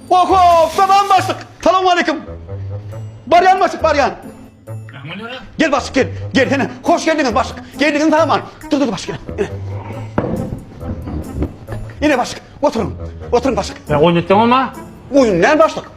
Oho, salam başlyk. Salowmaleýkim. Barýan başlyk, barýan. Gel başlyk, gel. Gel, hene. Hoş geldiňiz başlyk. Geldiňiz saman. Dur, dur başlyk. Ene. Ene başlyk, oturyň. Oturyň başlyk. Ya oýnatdyň ama. Oýun näme başlyk?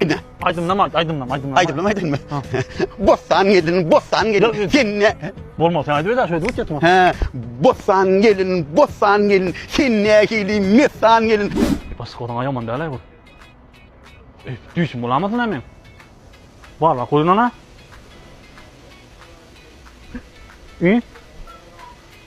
Ine. Aýdymlam aýt, aýdymlam, aýdymlam. Aýdymlam aýdym. Bossan gelin, bossan gelin. Senne. Bolma, sen aýdyp eder, şöýdip ötýärdim. He. Bossan gelin, bossan gelin. Senne hili messan gelin. Bas goran aýaman däl bu. E, düýşüm bolamasyn men. Bar bak oýnana. Ü?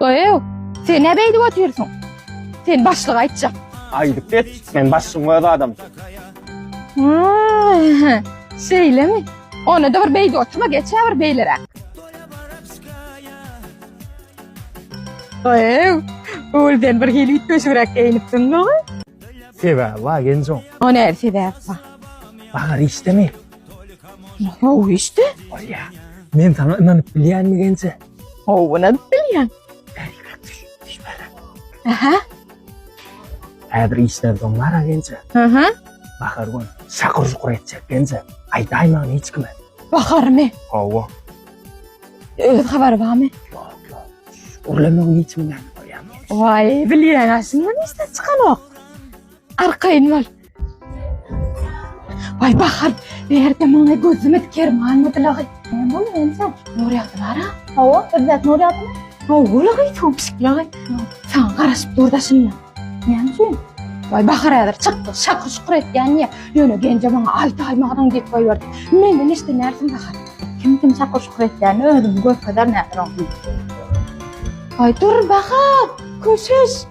Öýew, sen näme edip otyrsyň? Sen başlyga aýtjak. Aýdyp get, men başlygyň öz adamy. Aaa, Şeýlemi? Onda-da bir beýdi oturma, geçä bir beýleräk. Öýew, ol sen bir hili ütgeşigräk geýinipsiň gowy. Sebäbi bar genjoň. O näme sebäp bar? Bahar işdemi? Gowy işte. Bolýa. Men saňa ynanyp bilýänmi genje? Howun edip bilýän. Aha. Häzir işden soň bara gence. Aha. Bahar gün şakur şukur etjek gence. Aýdaýma hiç kime. Baharymy? Hawa. Öz habary barmy? Ýok, ýok. Urlemegiň hiç bilen bolýan. Waý, bilýän aşyndan işden çykanok. Arkaýyn bol. Ay bahar, berde muňa gözümiz kerman mudylagy. Näme bolýar ense? Nur ýagdylara. Hawa, özbek nur ýagdymy? Howlagy topşyklagy. Saňa garaşyp durda şunda. Näme üçin? Ay bahar häzir çykdy, şakyr şukur etýän ýa. Ýöne genje maňa aýt aýmagdan diýip goýberdi. Menden eşden näsin bahar? Kim kim şakyr şukur etýäni özüm görkezer näsin oňa. Ay dur bahar, köşeş.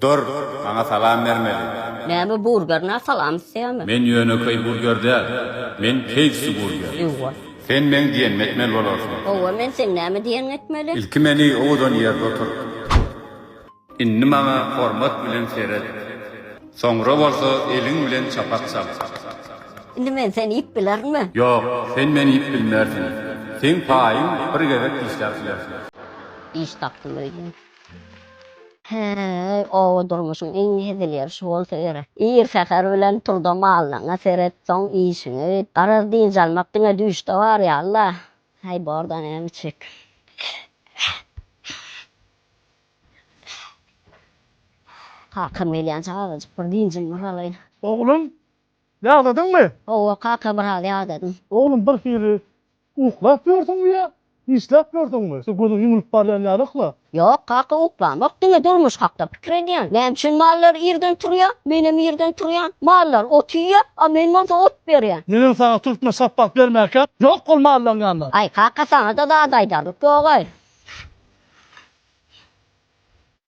Dur, maňa salam bermeli. Näme burger na salam isleýämi. Men ýönekeý burger däl, men KFC burger. Ýuwa. Sen meň diýenimi etmeli bolarsyň. Howwa men seň näme diýeniňi etmeli. Ilki meni owadan ýerde otur. Indi maňa hormat bilen seret. Soňra bolsa eliň bilen çapak çal. Indi men seni iýip bilerinmi. Ýok, sen meni iýip bilmersiň. Seň paýyň bir gezek dişläp bilersiň. Iş tapdym öýdýän. Häý, oba durmuşyň iň hezil ýeri şu bolsa gerek. Ir säher bilen tur-da mallaryňa seret, soň işiňi et. Garaz, dynç almak diňe düýşde bar ýaly-la. Häý, bor-da, näme içjek? Kakam gelýänçä azajyk bir dynjymyzy alaýyn. Oglum, ýadadyňmy? Hawa, kaka, biraz ýadadym. Oglum, birhili Uklap ýörsüňmi ýa işläp ýörsüňmi? Şu gözüň ýumlup barýan ýalyk-la. Ýok, kaka uklamok, diňe durmuş hakda pikir edýän. Näme üçin mallar irden turýar? Menem irden turýan. Mallar ot iýýär, a men bolsa ot berýän. Menem saňa türkmen şapbak bermäkäm, ýok ol mallaň ýanynda. Aý, kaka saňa-da zat aýdarlyk ýog-aý.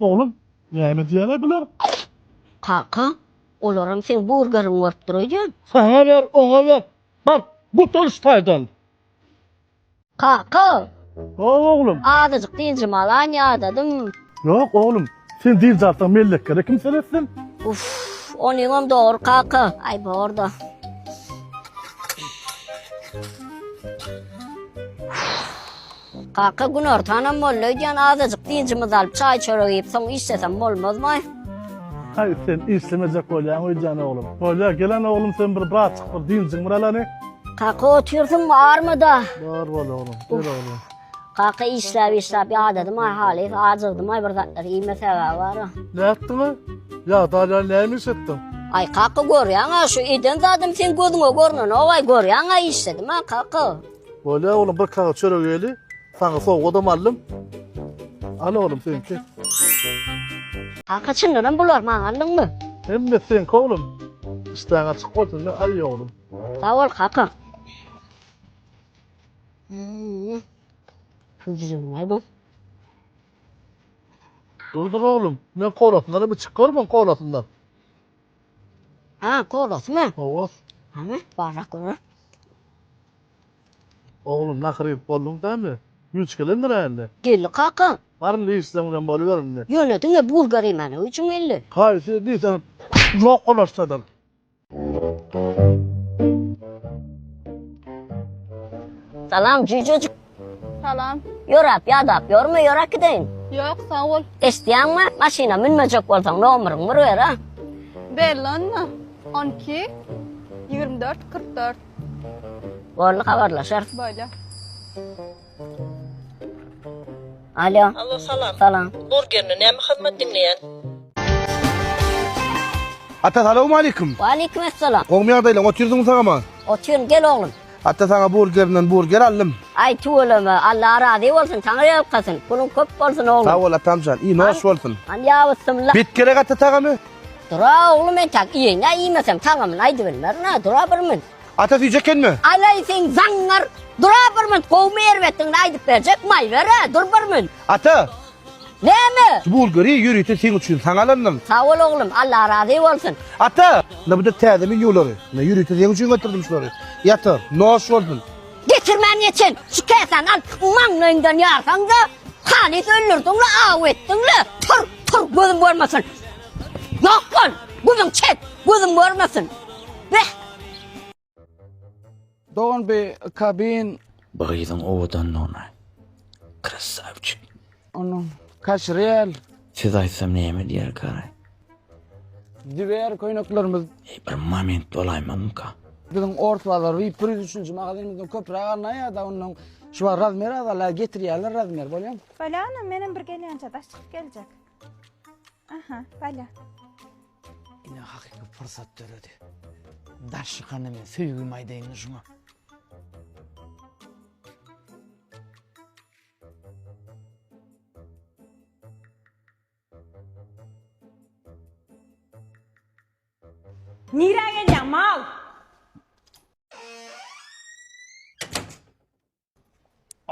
Oglum, näme diýýäler bular? Kaka, olaram seň burgeriň bolup dur öýdýän. Saňa ber, oňa ber. Bar, gut ol ştaýdan. Kaka! Hawa, oglum. Azajyk dynjymy alaýyn, ýadadym. Ýok, oglum. Sen dynç alsaň, mellekleri kim seretsin? Uff, onyňam dogry, kaka. Aý, bor-da. Uff. Kaka, günortanam boldy öýdýän, azajyk dynjymyzy alyp, çaý-çörek iýip, soň işlesem bolmazmy? Haý, sen işlemejek bolýaň öýdýän, oglum. Bolýa, gelen oglum, sen bir brat çyk, bir dynjyň bir alany. Kaka, otyrsyňmy, armyda? Bar bol, oglum, ber, oglum. Kaka, işläp-işläp ýadadym-aý halys, ajygdym-aý, bir zatlar iýmesäg-ä bar-a. Nätdiň-aý? Ýadalýan näme iş etdiň? Aý, kaka, görýäň-ä, şu eden zadym seň gözüňe görnenok-aý, görýäň-ä, işledim-ä, kaka. Bolýa oglum bir kagyz çörek ýeli. Saňa sowgadam aldym. Al oglum seňki. Kaka çyndanam bular maňa aldyňmy? Hemmesi seňki oglum. Işdäň açyk bolsun we aý oglum. Sag bol kaka. Hüjrüňe bu. Durdur oglum, men kolasyndanam içip görmen kolasyndan. Aa golasy mı? Gowas. Hany barrak görä. Oglum nakyr edip bolduň da indi. Güýç gelendir-ä indi. Geldi kaka. Bar indi işleň bilen boluber indi. Ýöne diňe bulgar iýmändigi üçin geldi. Haýsy diýseň zok golaşdadyr. Salam jüýjejik. Salam. Ýorap, ýadap ýorme, ýor äkideýin. Ýok, sag bol. Eşdýäňmi? Maşyna münmejek bolsaň, nomeryňy bir ber, a? Belli onda. On iki, ýigrimi dört, kyrk dört. Boldy, habarlaşarys. Bolýa. Alýo. Allo, salam. Salam. Burgerni näme hyzmat diňleýän? Ata, salawmaleýkim. Waleýkim essalam. Gowmy ýagdaýlaň? Otyrsyňmy sagama? Otyryn, gel oglum. Ata saňa burgerinden burger aldym. Aý tüweleme Alla razy bolsun saňa ýalkasyn puluň köp bolsun oglum. Sag bol atamjan iý noş bolsun. Han ýabys symla. Bet gerek ata tagamy. Dura oglum entak iýeý nä iýmesem tagamyny aýdy bilmerin ha dura bir münt. Ata süýji ekenmi. Alaý sen zaňňar dura bir münt gowmy erbetdigini aýdyp berjek maý ber-ä dur bir münt. Ata. Näme? Şu bulgary ýörite seň üçin saňa alandym. Sag bol oglum, Alla razy bolsun. Ata! Ynha bu-da täze menýulary. Ynha ýörite seň üçin getirdim şulary. Ýatyr, noş bolsun. Getirmän geçen şu käsäni al, maňlaýyňdan ýarsaň-da, halys öldürdiň-le, aw etdiň-le! Tur, tur, gözüm görmesin! Ýok bol! Guzyn çek, gözüm görmesin! Beh! Dogan bi kabin. Bu gyzyň owadanlygyna krasawçik. Onuň kaşrel. Siz aýtsam näme diýer kary. Diwer köýneklerimiz. Eý bir moment bolaýmazmyka. Biziň ors bazar bir ýüz üçünji magazynymyzdan köpräk alnan ýada ondan şubar razmer azala getirýärler razmer bolýam. Balya onam menem bir gelýänçä daş çykyp geljek. Aha balya. Ine hakyky pursat döredi. Darşykana men söýgimi aýdaýyn şuňa. Nirä gelýäň, mal?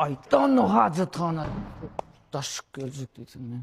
Aýtda onda hajathana. Darşyk geljek diýseň men.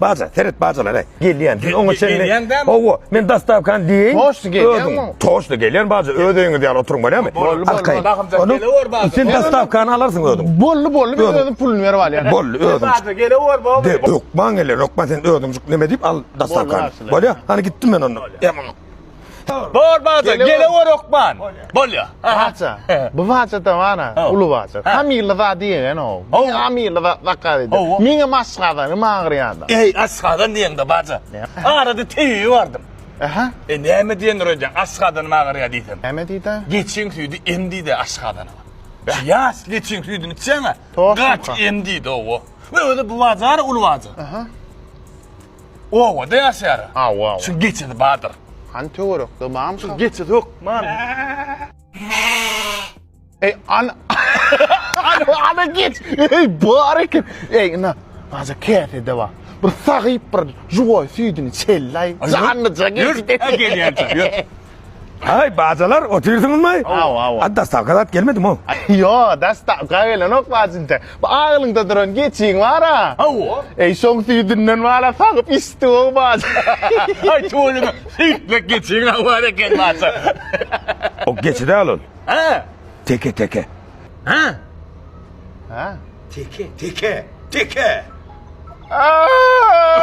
Baja, seret bajalara. Gelýän. Siz oňa çenli. Gelýän dämi? Hawa, men dastavkany diýeýin. Toşly gelýänmi? Toşly gelýän baja. Öz öýüňiz ýaly oturyň bolýamy? Bolly, bolly. Arkaýyn. Bakymjak Onu gelewer baja. sen dastavkany alarsyň özüň. Bolly, bolly. Men Öňe. özüm puluny berip alýan. Bolly, özüň. Baja gelewer baba. De, hökman geler, hökman sen özüň neme diýip al dastavkany. Bolýar, Bolýar. Hany gitdim men onda. Ýa, Bor baza, gele bor okman. Bolya. Baza. Bu baza da bana, ulu baza. Kamilli za diýen o. Kamilli za zakar edi. Mine masgada, ne magriyada. Ey, asgada niýen de baza. Arada teýi vardım. Aha. E näme diýen röýden, asgadan magriya diýsem. Näme diýdi? Geçiň süýdi em diýdi asgadana. Ýas geçiň süýdüni içýäňä. Gaç em diýdi o. Öde bu baza, ulu baza. Aha. Obada ýaşaýar. Aw aw. Şuň geçesi bardyr. Hany töwerekde barmy şa? Geçesi hökman. Eý ana. Ana geç. Eý bar eken. Eý ina. Aja käsede bar. Bir sagyp bir juwaý süýdini çelläý. Janlyja geç. Ýör. Gelýän çaý. Ýör. Haý, bajylar, otyrsyňyzmy? Hawa, hawa. A dastavka zat gelmedimi? Ýo, dastavka gelenok, bajynja. Bu aglyňda duran geçiň bar-a? Hawa. Eý, şoň süýdünden wala sagyp içdi-ow, bajy. Haý, tüweleme, süýtmek geçiň-ä bar eken, bajy. O geçi däl ol. Hä? Teke, teke. Hä? Hä? Teke, teke, teke! Aaa!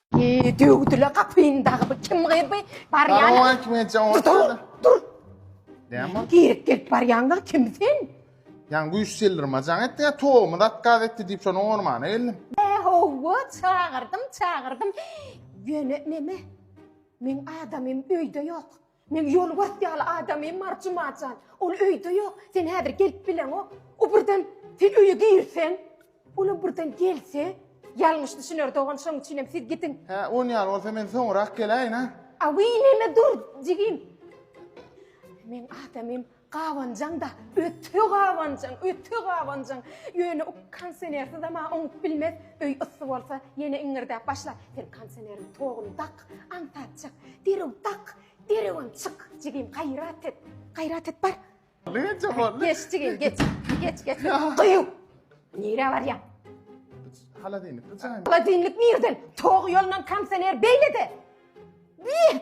Eee döwdüle gapyny dagy bu kim gyz bu barýan. Darowa kim etjek o. Dur dur. Näme? Girip gelip barýanlar kim sen? Ýan güýç seldirme jaň etdi ýa togumy dat gaz etdi diýip şonuň ormana geldim. Owo çagyrdym çagyrdym. Ýöne neme? Meň adamym öýde ýok. Men ýolbars ýaly adamym Mary Jumajan. Ol öýde ýok. Sen häzir gelip bileňok. O birden sen öýe girseň, olam birden gelse, ýalňyş düşüner dogan, şonuň üçinem siz gidiň. Hä, on ýaly bolsa men soňurak geläýin, a? Awiý, neme dur, jigim. Men adamym Gabanjaň-da, öte gabanjaň, öte gabanjaň. Ýöne o konsenersiz-ä-ma oňup bilmez. Öý yssy bolsa, ýene iňňirdäp başlar. Sen konseneriň toguny dak, aňsat çyk. Derew dak, derewem çyk. Jigim, gaýrat et. Gaýrat et, bar. Boldy, ençe boldy. Geç, jigim, geç. Geç, geç. Gyýw! Nirä barýaň? Holodilnik, bu jaýmy? Holodilnik nirden? Tog ýolundan konsener beýlede. Bi!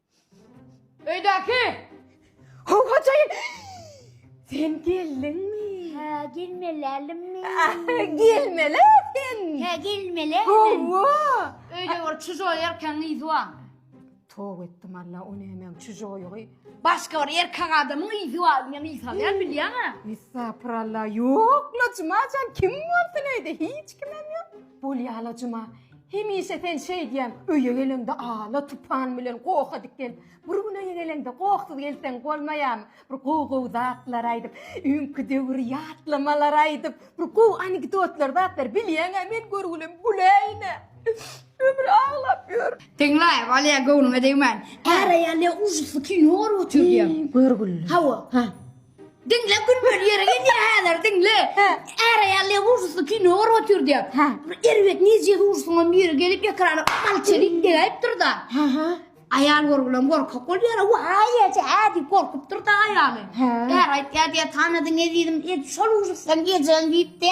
Öýdäki! Howajaýyn! Sen geldiňmi? Hä, gelmelärlimmi? Gelmeli sen! Hä, gelmeli. Hawa! Öýde bir çujoý erkegiň yzy barmy? Toba etdim Alla, o nämäň çujoýygy? Başga bir erkek adamyň yzy bar, men yz salýan bilýäňä. Estagpyralla, ýok Lojuma jan, kim bolsun öýde, hiç kimem ýok. Bol ýalajyma, hemişe sen şeýdýäň, öýe geleňde ala tupan bilen goha diken, bir gün öýe geleňde gohsuz gelseň bolmaýamy, bir gowy gowy zatlar aýdyp, öňki döwri ýatlamalar aýdyp, bir gowy anekdotlar zatlar bilýäňä men görgülem güläýine. Ömür aglap ýör. Diňläý, Walýa göwnüňe degmän, Är aýal ýa ujytly kino görüp otyr diýýäň. Görgüli. Hawa. Diňle gülmeli ýere gelýär häzir diňle. Äraýallyga gurşusly kino görüp otyr diýip. Ha. Erbet nirje gurşuňam biri gelip ekrana mal çelip degäýipdir-da. Ha ha. Aýal görgülem gorkak bolýar. Waý eje hä diýip gorkupdyr-da aýaly. Hä. Är aýtýar diýär tanadyň ezizim et şol urşukdan geljeň diýipdi.